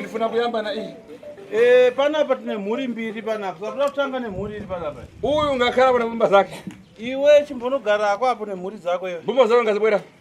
ndifuna kuyamba na iyi Eh, panapa tine mhuri mbiri panapa saka toda kutanga nemhuri iri panapa uyu ngakhala kuna mbumba zake iwe chimbonogarako apo nemhuri dzako iwe mbumba zako ngazibwera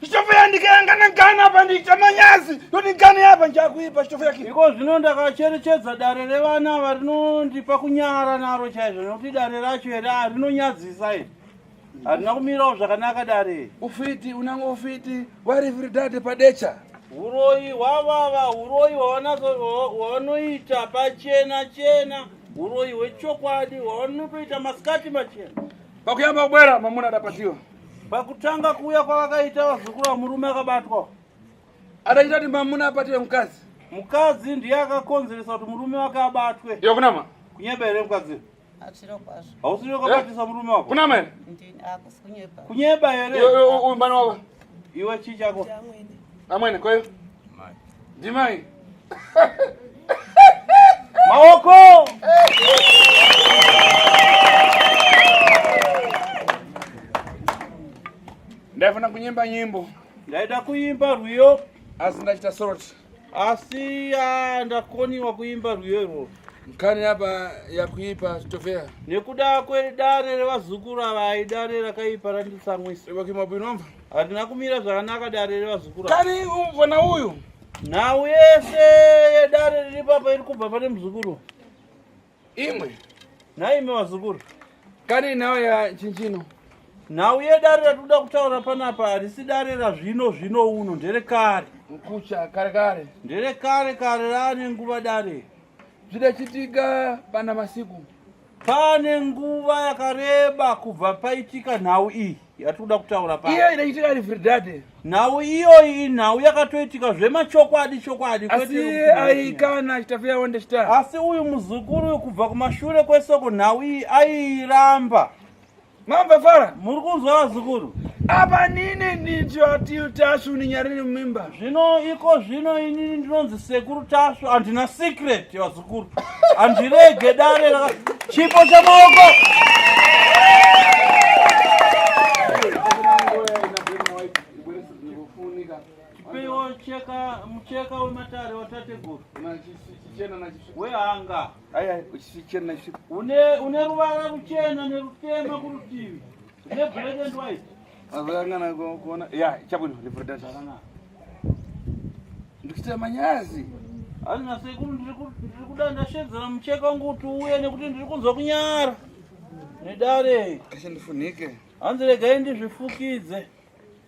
Chitofuya ndikayangana gana apa ndiita manyazi yoti gana yapa njakuipa chitofuya ki. Iko zvino ndakacherechedza dare revana ava rinondipa kunyara naro chaizvo nokuti dare racho here rinonyadzisa iri. Harina kumirawo zvakanaka dare. Ufiti unanga ufiti wariviri dade padecha. Uroyi hwavava uroyi hwavanoita pachena chena uroyi hwechokwadi hwavanotoita masikati machena. Pakuyamba kubwera mamuna adapatiwa. Pakutanga kuuya kwavakaita vazukuru vamurume akabatwa. Ataita kuti mamuna abatwe mukadzi. Mukadzi ndiye akakonzeresa kuti murume wake abatwe. Iyo kunama. Kunyeba here mukadzi? Achiro kwazvo. Hausiri wakabatisa eh? murume wako. Kunama here? Ndini akusi kunyeba. Kunyeba here? Uyu mbani wako. Iwe chii chako? Amwene kweyo. Ndimai. maoko ndaifana kunyimba nyimbo ndaida kuimba rwiyo asi ndachita sorot asi ah, ndakoniwa kuimba rwiyo irworo nkhani yapa yakuipa tofeya nekuda kwedare revazukuru ava idare rakaipa randitsamwisa vakimabwinomva Hatina kumira zvakanaka dare revazukuru. Kani umvona uyu? Nhau yese yedare riri papa iri kubva pane muzukuru. Imwe. Nhai imi vazukuru. Kani nhau ya chinchino? Nhau yedare ratinoda kutaura panapa harisi dare razvino zvino uno ndere kare. Mkucha kare kare. Ndere kare kare raane nguva dare. Zvida chitika pana masiku. Pane nguva yakareba kubva paitika nhau iyi yatikuda kutaura pa iyo inaitika ari Verdade. Nhau iyoyi inhau yakatoitika zvemachokwadi chokwadi Asi aikana achitafu yawo ndechita. Asi uyu muzukuru uyu kubva kumashure kwesoko nhau iyi airamba. Mamva fara. Muri kunzwa vazukuru. Apa nini ndityo atil Tashu ninyarini mimba. Zvino iko zvino inini ndinonzi sekuru Tashu andina secret vazukuru. Andirege dare la chipo cha maoko. Chipeiwo cheka mucheka wematare watateguru. Wehanga. Aya chichena chi. Une une ruvara ruchena nerutema kurutivi. Ne black and white. Azangana kuona. Ya, chabwino reporter. Ndikuita manyazi. Hazvina sekuru ndiri kuda ndashedzera mucheka wangu kuti uye nekuti ndiri kunzwa kunyara. Nedare. Kashandifunike. Hanzi regai ndizvifukidze.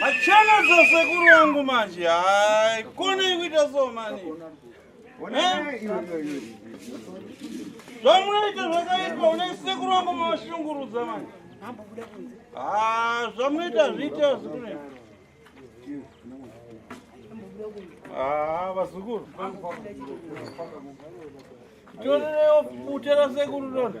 Machana za sekuru wangu manje haikone kuita so mani zvamunoita zvakaipa une sekuru wangu mashungurudza manje zvamunoita zviita zikune vazukuru torerewo bute rasekuru rona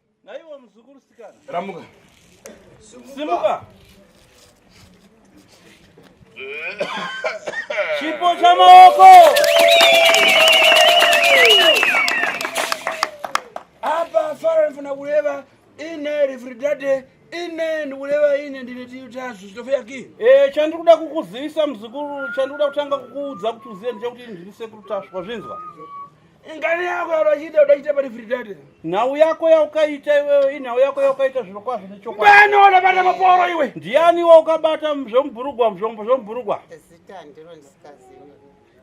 Naiwo muzukuru sikana. Ramuka. Simuka. Chipo cha maoko. Apa fara nifuna kuleva ine refridate ine ndikuleva ine ndine tiyutasu chitofeya ki. Eh, chandikuda kukuzivisa muzukuru, chandikuda kutanga kukuudza kuti uziye ndechekuti ndiri sekuru taswa zvinzwa. Ngani yako yaunochita unochita pari free data. Nhau yako yaukaita iwewe inhau yako yaukaita zviro kwazvo nechokwadi. Bani unobata maporo iwe. Ndiani iwe ukabata zvomburugwa zvombo zvomburugwa. Zita ndiro ndisikazivi.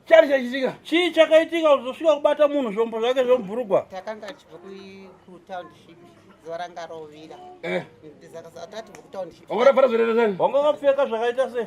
Chari chachitika. Chii chakaitika uzosvika kubata munhu zvombo zvake zvomburugwa. Takanga tichibva ku township. zuva ranga rovira. Eh. Ndizakasatati ku township. Ongora para zvirere zani. Ongora pfeka zvakaita sei?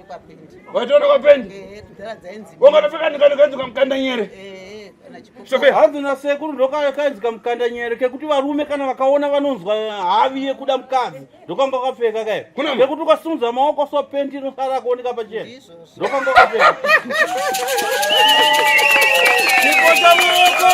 Waitoona kwa pendi? Eh, kudhara dzainzi. Wanga tafika ndikani kanzi kamkanda nyere. Eh, kana chikoko. Sophia. Hanzi na sekuru ndoka kanzi kamkanda nyere kekuti varume kana vakaona vanonzwa havi yekuda mukadzi. Ndokanga kwapfeka kai. Kuna mwe. Kekuti ukasunza maoko so pendi inosara kuoneka pachena. Ndizvozvo. Ndokanga kwapfeka. Chikota maoko.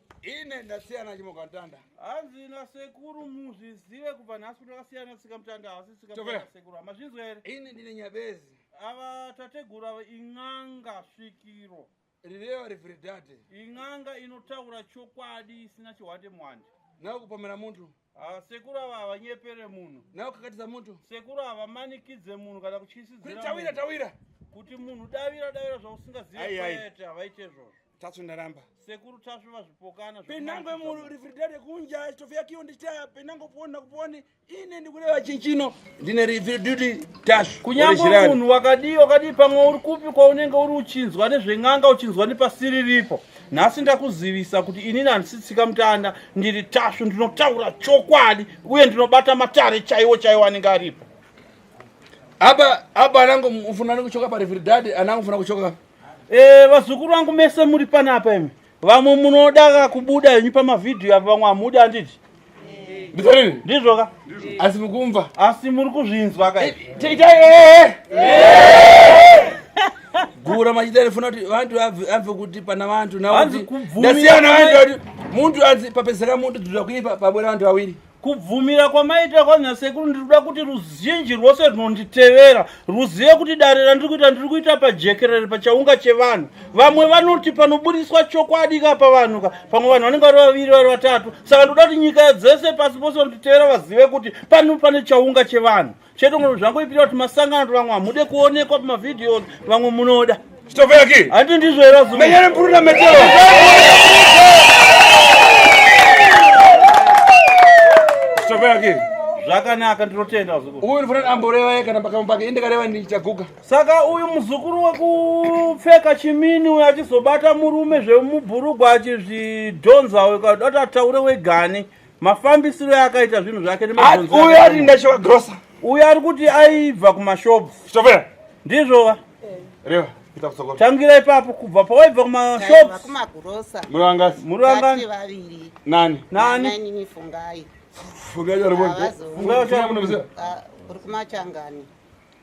ine ndasiyana chimokatanda hanzi nasekuru muzvizive kubva nhasi kuti akasiyana tsika mutanda hasi tsikasekuru hamazvinzwa here ini ndine nyabezi ava tateguru ava in'anga svikiro rireva rivhiridhadhe in'anga inotaura chokwadi isina chihwate mwandi nawe kupomera munhu Ah, sekuru ava havanyepere munhu nawe kakatidza moto sekuru havamanikidze munhu kana kutyisidzira tawira tawira kuti munhu davira davira zvausingaziveete havaite izvozvo tasvu ndaramba sekuru tasvu vazvipokana penango murifridade kunja chitofiyakiyo ndichita penango poni nakuponi ine ndikureva chinchino ndine ripi duty tashu kunyange munhu wakadii wakadii pamwe uri kupi kwaunenge uri uchinzwa nezven'anga uchinzwa nepasiri ripo nhasi ndakuzivisa kuti inini handisi tsika mutanda ndiri tashu ndinotaura chokwadi uye ndinobata matare chaiwo chaiwo anenge aripo apa apa anango mufuna nekuchoka parivhiridhadhi anango mufuna kuchoka eh, vazukuru vangu mese muri panapa imi Vamwe munoda ka kubuda henyu pamavhidhiyo apa vamwe hamudi handiti? Ndizvo ndizvo ka? Asi mukumva. Asi muri kuzvinzwa ka? Eh, Taita eh. Gura machida rifuna kuti vantu vabve kuti pana vantu nawo. Ndasiyana vantu muntu anzi papezeka muntu dzura kuipa pabwera vantu vawiri. kubvumira kwamaita kwanyasekuru ndiri kuda kuti ruzhinji rwose rwunonditevera rwuzive kuti dare randiri kuita ndiri kuita pajekerere pachaunga chevanhu vamwe vanoti panoburitswa chokwadi ka pavanhu ka pamwe vanhu vanenge vari vaviri vari vatatu saka ndoda kuti nyika dzese pasi pose vanotitevera vazive kuti pano pane chaunga chevanhu Cheto ngono zvangoipira kuti masangano kuti vamwe hamude kuonekwa pamavideos vamwe munoda. Chitovera ki? Handi ndizvo era zuma. Menyere mpurira metero. Chitovera ki? zvakanaka ndinotenda muzukuru uyu ndifana amboreva ye kana pakamwe pake indikareva ndichaguka saka uyu muzukuru wekupfeka chimini uyo achizobata murume zvemubhurugwa achizvidhonza uyo kadati ataure wegani mafambisiro akaita zvinhu zvake uyo ari ndachiva grosa uyo ari kuti aibva kumashops shovera ndizvova reva tangira ipapo kubva pawaibva kumashops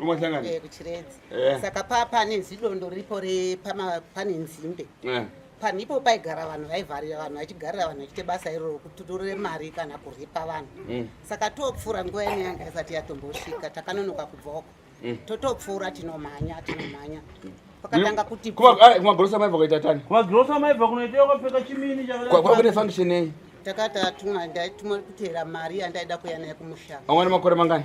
Umahlangana. Eh kuchiredzi. Eh. Saka pa pane zidondo ripo re pama pane nzimbe. Eh. Panipo paigara vanhu vaivharira vanhu vachigarira vanhu vachite basa iroro kututurira mari kana kuripa vanhu. Mm. Saka topfura nguva ine yanga isati yatombosvika takanonoka kubva uko. Mm. Totopfura tinomhanya tinomhanya. Mm. Pakatanga kuti kuma ah, kuma grosa maiva kuita tani. Kuma grosa maiva kunoita kwapfeka chimini chakadai. Kwa kune function nei? Takati atumwa ndaituma kutera mari yandaida kuya naye kumushaka. Amwana makore mangani?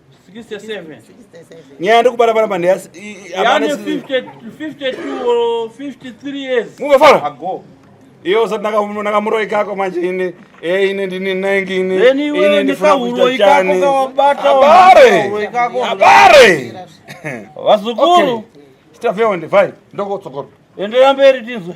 nyaya ndokubara bara mande yase yane 50 52 or 53 years move fara ago iyo usati nakamuroi kako manje ini e ini ndini nengi ini ini ndifuna kuita chani abare abare vazukuru chitafeonde fai ndokotsokora endeya mberi tizwe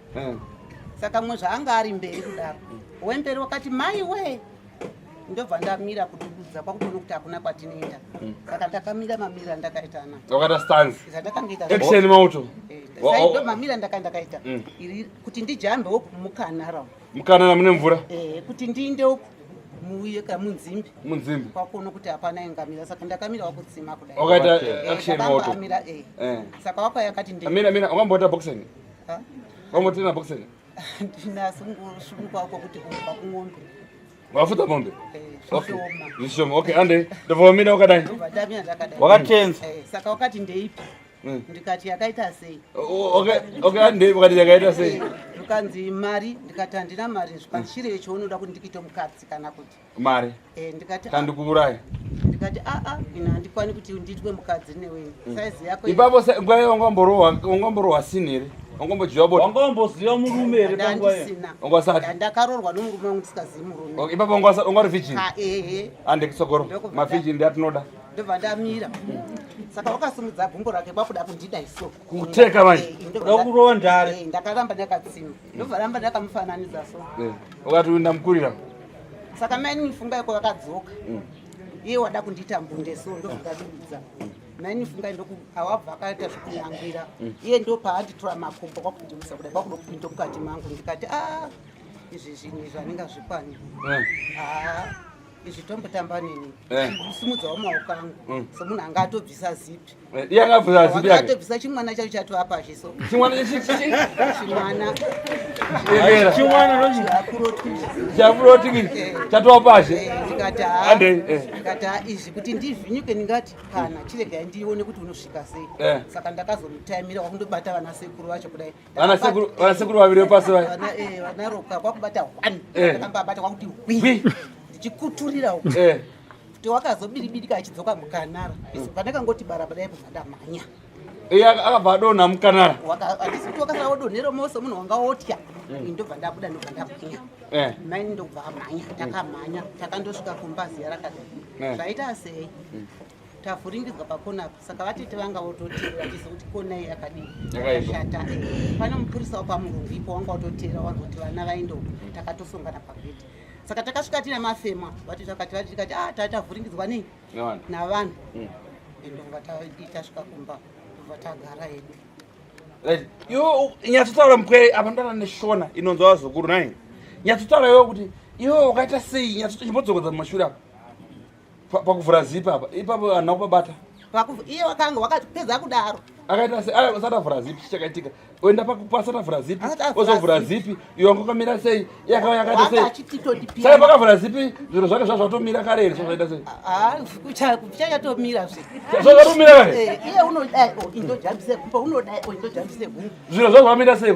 mm. saka mwe zvaanga ari mberi kudaro wemberi wakati mai wee ndobva ndamira kudududza kwakutoona kuti hakuna kwatinoenda hmm. saka ndakamira mamira ndakaitana wakaita stance zvandakangaita action mauto eh, saido mamira ndaka ndakaita hmm. iri kuti ndijambe woku mukanara mukanara mune mvura eh kuti ndiinde woku muuye ka munzimbi munzimbi kwakuona kuti hapana ingamira saka ndakamira wakutsima kudai wakaita eh, action mauto eh, saka wapa yakati ndimira mira ungamboita boxing Kwamotena boxer. Ndinaso ngosumuka uko kuti kumba kumombe. Wafuta mombe? Eh, okay. Zvishoma. Okay, ande. Ndovomina wakadai. Ndovadamia ndakadai. Wakatenza. Eh, saka wakati ndeipi? Hmm. ndikati yakaita sei okay ande wakati yakaita sei eh, ndikanzi mari ndikati handina mari zvipandichirei chounoda kuti ndikite mukadzi kana kuti mari eh, ndikati kandikuuraya ah. ndikati aa ah, ah, ina handikwani kuti ndiitwe mukadzi newe mm. saizi yako ipapo nguva iyo wangamborohwa sini here wangombojiwa bota wangomboziva murume here panguva iyo wangasati ndakarorwa nomurume wangu ndisingazivi murume ipapo wangari vijini ehe andekisogoro mavijini ndiatinoda ndobva ndamira saka wakasimudza gumbo rake kwakuda kundida iso kuteka manje eh, eh, ndoda kurova ndare eh, ndakaramba ndakatsimba ndovaramba ndakamufananidza so eh, ukati ndamukurira saka maini nifunga iko vakadzoka mm. iye wada kundiita mbunde so ndovakadudza mm. maini nifunga ndoku awabva akaita zvekunyangwira mm. iye ndo paanditora makumbo kwakundimisa kudai kwakudokupinda mukati mangu ndikati a ah, izvi zvinhu izvi anenge azvikwani eh. ah. izvi tombotamba nini eh. simudzawo maoko angu mm. somunhu anga atobvisa zipi eh, iye anga abvisa zipi yake atobvisa chimwana chacho chati apazhe so chimwana chimwana chimwana nochi chafuroti eh. chatowa pazhe ndikati ha ndikati ha izvi kuti ndivhinyuke ndingati kana chiregai ndione kuti unosvika sei saka ndakazomutimira kwakundobata vana sekuru vacho kudai vanasekuru vaviri vepasi vaya eh, vanaroka kwakubata one eh. akambabata kwakuti hwi ndichikuturira kuti eh. wakazobiribirika achidzoka mukanara hmm. pane kangoti barabara yaipo zvandamhanya iye akabva adonha mukanara handisi kuti wakasara wodonhera mose munhu wanga wotya hmm. ndobva ndabuda ndobva ndamhanya mai ndobva amhanya takamhanya takandosvika kumba ziya rakadai zvaita sei hmm. tavhuringidzwa pakona apa saka vatete vanga vototeera vachiziva kuti kona iyi yakadii yakashata pane mupurisa wapamurungu ipo wanga vototeera wanzi kuti vana vaende uko takatosongana pagedhi saka takasvika tina mafema vati takati vati tikati ah taa tavhuringidzwa nei navanhu hmm. ende kunga tasvika kumba kubva tagara hedu iwe nyatsotaura mupwere apa ndana neshona inonzwa vazukuru nai nyatsotaura iwe kuti iwe wakaita sei nyatsochimbodzokodza mumashure apa pakuvhura zipi apa ipapo vanhu vakubabata iye wakanga wakapedza kudaro akaita asati avhura zipi chichakaitika oenda asati avhura zipi ozovhura zipi iyo wanga ukamira sei yakava yakaita seisaka pakavhura zipi zviro zvake zva zvatomira kare here zvazvaita seichachatomira zvazvatomira kare iye unodai indojambise gumba unodai indojambise gumba zviro zva zvamira sei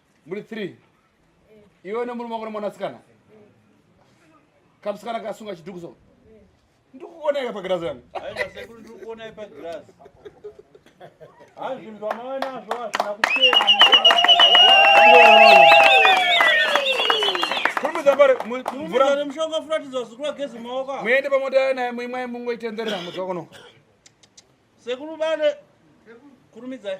muri three iwe nemurume wako nemwanasikana kamusikana kasunga chidhuku so ndikukuoneka pagirazi yangu muende pamota naye muimwai mungoitenderera mudzi wakono Sekuru Bale, kurumidzai.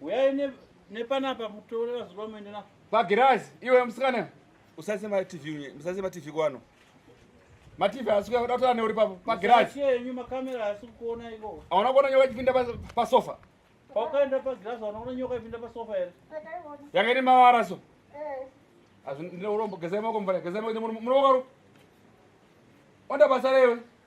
Uyai ne nepanapa mutore vazuva muende na. Pagirazi, iwe musikana. Usase ma TV unye, usase ma TV kwano. Ma TV asi kuda kutoa neuri pa pagirazi. Usase yenyu ma camera asi kuona iko. Aona kuona nyoka ikipinda pa, pa sofa. Paukaenda pa girazi unaona nyoka ikipinda pa sofa here? Yanga iri mawara so. Eh. Azvi ndine urombo gezai mako mvara, gezai mako munokaru. Onda basa rewe.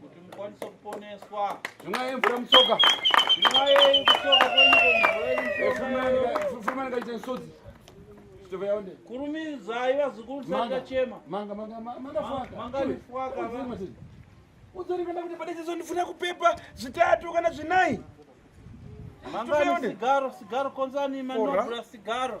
kuti mukwanise kuponeswa zvimwaye mvura mutsoka zvimwaye kutsoka kwenyukomuaikaite nsodzi chitova yaonde kurumidzai vazukuru sandachema manga manga manga faka manga faka udzorikana kuti padezezo ndifuna kupepa zvitatu kana zvinai mangani sigaro sigaro konzani manobra sigaro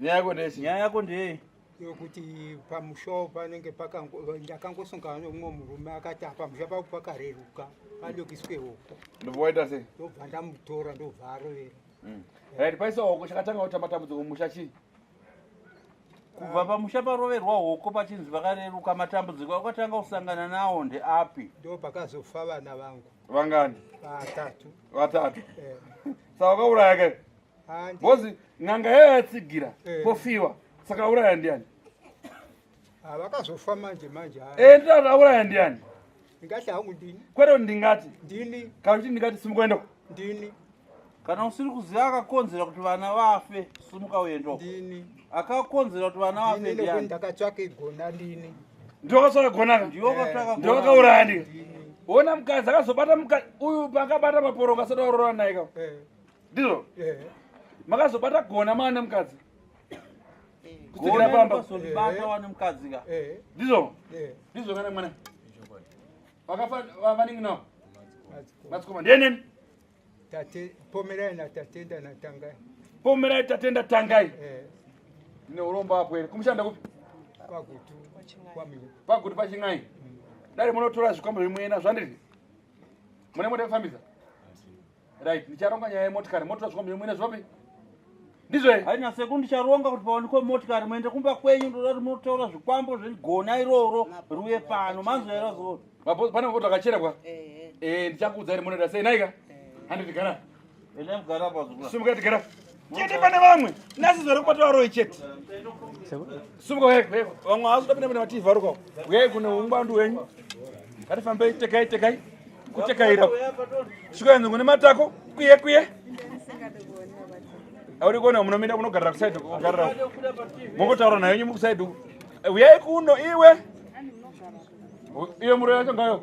nyaya yako ndeyei nyaya yako ndeyei yokuti pamushawo panenge ndakangosongana nomumwe murume akati apamusha pavo pakareruka padokiswe hoko ndovaita sei ndobva ndamutora ndobva arovera mm. right paisa hoko chakatanga kuti matambudziko mumusha chii kubva pamusha paroverwa hoko pachinzi vakareruka matambudziko akatanga kusangana nawo ndeapi ndo pakazofa vana vangu vangani vatatu vatatu eh. saka wakauraya ke Bozi n'anga yayo yatsigira eh. pofiwa saka auraya ndiani? Ah, vakazofa manje manje. Eh ndati auraya ndiani? Ndingati hangu ndini. Kwete ndingati. Ndini. Kana kuti ndingati simukuenda uko. Ndini. Kana usiri kuziva akakonzera kuti vana vafe simuka uenda uko. Ndini. Akakonzera kuti vana vafe ndiani? Ndini ndakatsvaka igona ndini. Ndiwo akatsvaka gona ka? Ndiwo akatsvaka gona. Ndiwo akauraya ndini. Ona mukadzi akazobata mukadzi uyu pakabata maporoka asati aurora naye ka? Eh. ndizvo makazobata gona maane mukadzi kusikira pamba kuzobata wane mukadzi ka ndizvo ndizvo kana mwana vakafa vanenge nawo matsikoma ndieneni tate pomerai natatenda natangai pomerai tatenda tangai ndine urombo apo here kumushanda kupi pagutu pachin'ai dare munotora zvikwambo zvimwena zvandiri mune mode kufambisa right ndicharonga nyaya yemotikari motora zviko mbiyo mwine zvopi ndizve haina seku ndicharonga kuti pawanikwe motikari muende kumba kwenyu ndoda kuti munotaura zvikwambo zvegona iroro riuye pano manzwera zoo pane mapoto akacherekwa eh, ndichakuudza iri munoda sei naika eh. handiti gara ene mugara pazukura simuka tigara chete pane vamwe nasi zvare kubata varoyi chete sumuka uyai kuheko vamwe havazi kutapinda pane vativi varukawo uyai kune ungwandu wenyu ngatifambei tekai tekai kutekaira svikaenzi ngune matako kuye kuye auri kuona munomira kunogarira kusaidi kugarira mongotaura nayo nyumu kusaidi uyai kuno iwe iyo muro yacho ngayo